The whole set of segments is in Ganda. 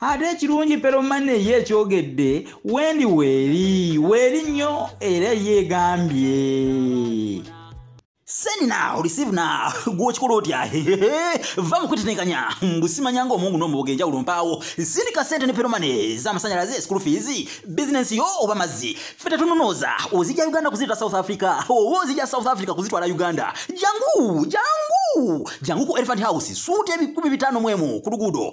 ate ekirungi peromane ye ekyogedde wendi weeri weeri nnyo era yeegambye send now receive now gwokikola otya va mukwetenekanya mbusimanya nga omungu nomuboga enjawulo mpaawo sindika sente ne peromane zamasanyalaze school fees business yo oba mazzi fe tetununooza ozija uganda kuzita south africa oba ozija south africa kuzitwala uganda jangu jangu jangu ku elephant house suuta ebikumi bitano mwemu ku luguudo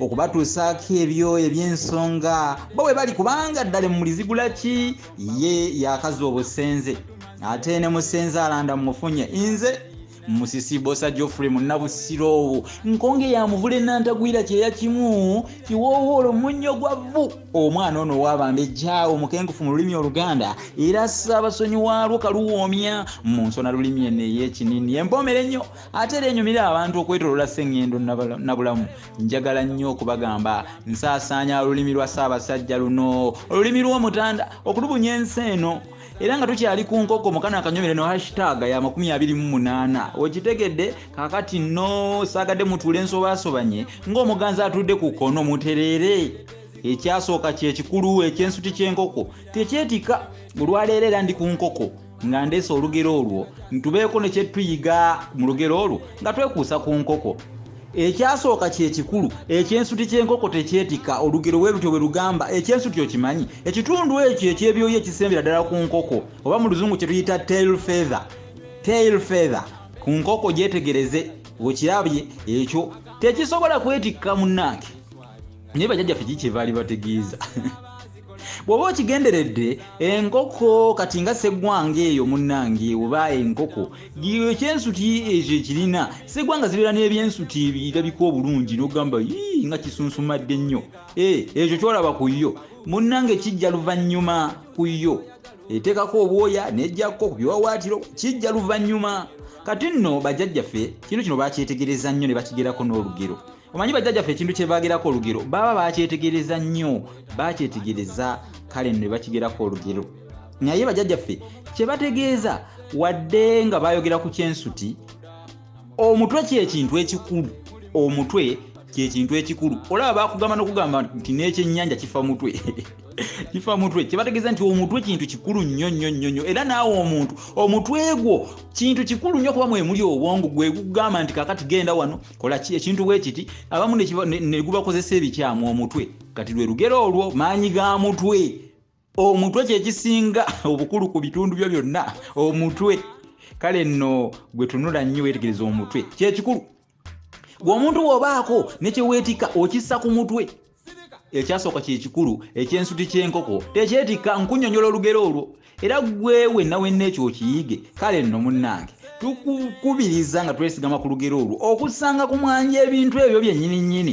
okubatuusaako ebyo eby'ensonga bo bwe bali kubanga ddala emulizigula ki ye yakaza obusenze ate ne musenze alanda mumufunye nze musisi bosa geoffrey munnabusiro owo nkonge yamuvula enantagwira kyeya kimu kiwoowo olwo munnyo gwa vvu omwana ono owabanda ejjaawo mukengufu mu lulimi oluganda era saabasonyi waalwo kaluwoomya mu nsona lulimi eno ey'ekinini empoomere nnyo ate era enyumira abantu okwetolola sengendo nabulamu njagala nnyo okubagamba nsaasaanya olulimi lwa ssaabasajja luno olulimi lw'omutanda okulubunya ensi eno era nga tukyali ku nkoko mukana akanyumire no hashtag ya 28 okitegedde kakati no saagadde mutuule ensobasobanye ng'omuganzi atudde ku kono mutereere ekyasooka kyekikulu ekyensuti ky'enkoko tekyetika olwaleero era ndi ku nkoko nga ndeese olugero olwo ntubeeko ne kyetuyiga mu lugero olwo nga twekuusa ku nkoko ekyasooka kyekikulu ekyensuti kyenkoko tekyetika olugero we lutyo bwe lugamba ekyensuti okimanyi ekitundu ekyo ekyebyoyo ekisembera ddala ku nkoko oba mu luzungu kye tuyita tail feather tail feather ku nkoko gyetegereze okirabye ekyo tekisobola kwetikka munnange naye bajajjaffe kikyebaali bategeeza bw'oba okigenderedde enkoko kati nga seggwanga eyo munnange oba enkoko ekyensuti ekyo ekirina seggwanga zibeera n'ebyensuti ebirabika obulungi n'ogamba yii nga kisunsumadde nnyo eh, ekyo kyolaba ku yo munnange kijja luvannyuma ku yo eteekako obwoya n'ejjakko ku biwawaatiro kijja luvannyuma kati nno bajjajjaffe kino kino bakyetegereza nnyo ne bakigerako n'olugero omanyi bajjajjaffe ekintu kyebagerako olugero baba bakyetegereza nnyo bakyetegereza kale ne bakigerako olugero naye bajjajjaffe kyebategeeza wadde nga bayogera ku kyensuti omutwe kyekintu ekikulu omutwe kyekintu ekikulu olaba bakugamba nokugamba nti nekyenyanja kifa mutwe kifa mutwe kyebategeeza nti omutwe kintu kikulu nnyo nnyo nnyo nnyo era naawe omuntu omutwe gwo kintu kikulu nnyo kuba mwemuli obwongo gwegugamba nti kakati genda wano kola ki ekintu bwe kiti abamu ne gubakozesa ebikyamu omutwe kati lwe lugero olwo maanyi ga mutwe omutwe kyekisinga obukulu ku bitundu byo byonna omutwe kale nno gwe tunula nnyo weetegereza omutwe kyekikulu gwe omuntu wobaako nekyeweetika okissa ku mutwe ekyasooka kyekikulu ekyensuti kyenkoko tekyetikka nkunyonyola olugero olwo era gwewe nawe nekyo okiyige kale nno munnange tukukubiriza nga twesigama ku lugero olwo okusanga ku mwanja ebintu ebyo byennyini nnyini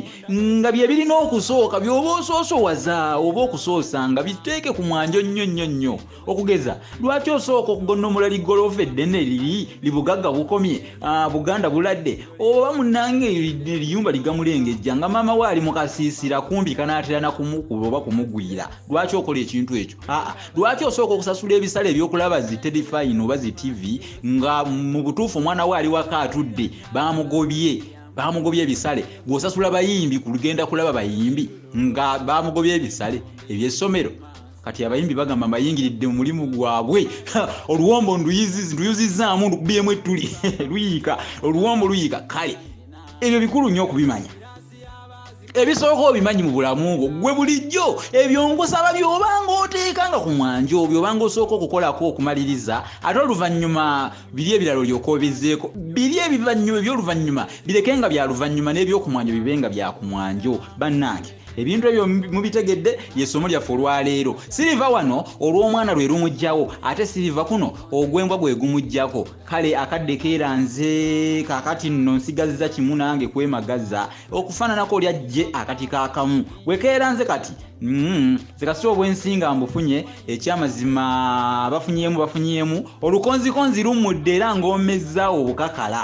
nga bye birina okusooka byoba osoosowaza oba okusoosa nga biteeke ku mwanja nnyo nnyo nnyo okugeza lwaki osooka okugonnomola ligoloofa eddene liri libugagga bukomye ah, buganda buladde oba munange liyumba ligamulengejja nga maama we ali mukasiisira kumbi kanaatera nakumukuba oba kumugwira lwaki okola ekintu ekyo aa ah, ah. lwaki osooka okusasula ebisale ebyokulaba zi telefayini oba zi tivi nga mu butuufu omwana we ali waka atudde bamugobye bamugobye ebisale gwosasula bayimbi kugenda kulaba bayimbi nga bamugobye ebisale ebyessomero kati abayimbi bagamba mbayingiridde mulimu gwabwe oluwombo nduyuzizzaamu ndukubiyemu ettuli luyiika oluwombo luyiika kale ebyo bikulu nnyo okubimanya ebisooka obimanyi mu bulamu bwo gwe bulijjo ebyo ngusaba byobanga oteekanga ku mwanja obyo obanga osooka okukolako okumaliriza ate oluvannyuma biri ebirala olyoka obizeeko biri ebivannyuma ebyoluvannyuma bireke nga byaluvannyuma n'ebyokumwanjo bibe nga byakumwanjo bannange ebintu ebyo mubitegedde yesomo lyaffe olwaleero siriva wano olw'omwana lwe lumugjawo ate siriva kuno ogwembwa gwe gumugjako kale akadde keera nze kakati nno nsigazza kimu nange kwemagaza okufaananako lyajje akati kakamu wekeera nze kati Mm-hmm. zikasi obwensinga mbufunye ekyamazima bafunyemu bafunyemu olukonzikonzi lumudde era ng'omezza obukakala